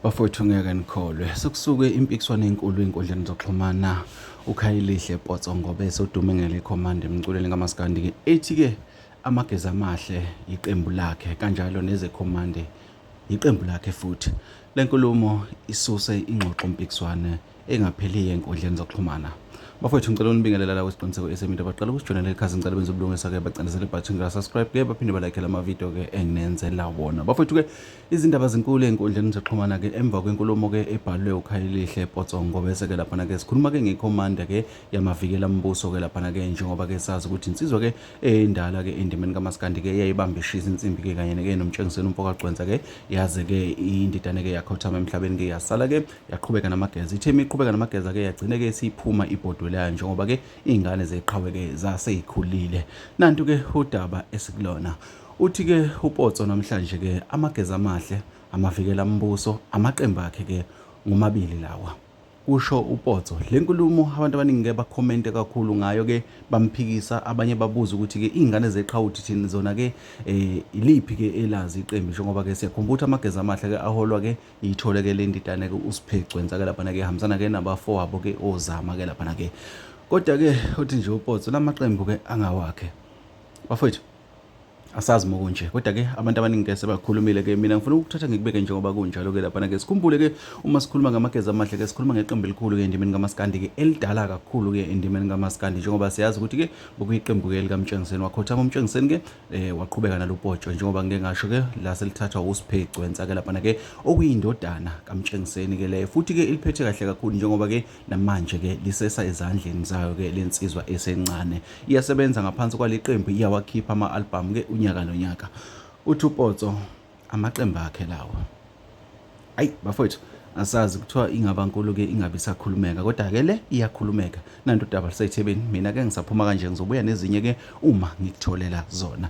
bafowethu ngeke nikholwe sekusuke impikiswano enkulu ey'nkundleni zokuxhumana ukhayelihle potso ngobe sodume ngelikhomanda emculweni kamasikandi-ke ethi-ke amagezi amahle yiqembu lakhe kanjalo nezekhomande yiqembu lakhe futhi le nkulumo isuse ingxoxo mpikiswane engapheliyo enkundleni zokuxhumana bafowethu ngicela unibingelela la kwesiqiniseko esemito baqala ukusijoyinela ikhasi ngicela benze ubulungisa-ke bacindezele ibhathini lasubscribe-ke baphinde balakhe la mavidiyo-ke enginenzela wona bafowethu-ke izindaba zinkulu ey'nkundleni zokuxhumana-ke emva kwenkulumo-ke ebhalwe ukhayelihle potsongo bese-ke laphana-ke sikhuluma-ke ngekhomanda-ke yamavikela mbuso-ke laphana-ke njengoba-ke sazi ukuthi insizwa-ke endala-ke endimeni kamasikandi-ke eyayibambe ishisa insimbi-ke kanye-ke nomtshengiseni umfokagcwensa-ke yaze-ke indidane-ke yakhothama emhlabeni-ke yasala-ke yaqhubeka namageza ithe uma iqhubeka namageza ke yagcine ke siphuma ibhodwe layo njengoba ke iy'ngane zeqhawe ke zaseyikhulile nantu ke udaba esikulona uthi ke upotso namhlanje ke amageza amahle amavikela mbuso amaqembu akhe ke ngomabili lawa kusho upotso le nkulumo abantu abaningi ke bakhomente kakhulu ngayo ke bamphikisa abanye babuza ukuthi ke iy'ngane zeqhawuthi thini zona ke um iliphi ke elazi iqembu njengoba ke siyakhumbula ukuthi amageza amahle ke aholwa ke iyithole ke le ndidane ke uSiphegcwensa ke laphana ke hambisana ke nabafowabo ke ozama ke laphana ke kodwa ke uthi nje upotso lamaqembu ke angawakhe bafowethu asazi uma kunje kodwa ke abantu abaningi ke sebakhulumile ke mina ngifuna ukuthatha ngikubeke njengoba kunjalo ke laphana ke sikhumbule ke uma sikhuluma ngamageza amahle ke sikhuluma ngeqembu elikhulu ke endimeni kamaskandi ke elidala kakhulu ke endimeni kamaskandi njengoba siyazi ukuthi ke bokuyiqembu ke likamtshengiseni wakhothama umtshengiseni ke eh waqhubeka nalopotsho njengoba ngike ngasho ke la selithathwa uSphe Gcwensa ke lapha ke okuyindodana kaMtshengiseni ke le futhi ke iliphethe kahle kakhulu njengoba ke namanje ke lisesa ezandleni zayo ke lensizwa esencane iyasebenza ngaphansi kwaleqembu iyawakhipha ama album ke unyaka nonyaka uThupotso amaqembu akhe lawo ayi bafowethu asazi kuthiwa ingaba nkulu ke ingabe isakhulumeka kodwa ke le iyakhulumeka nanto udaba lusethebeni mina ke ngisaphuma kanje ngizobuya nezinye ke uma ngikutholela zona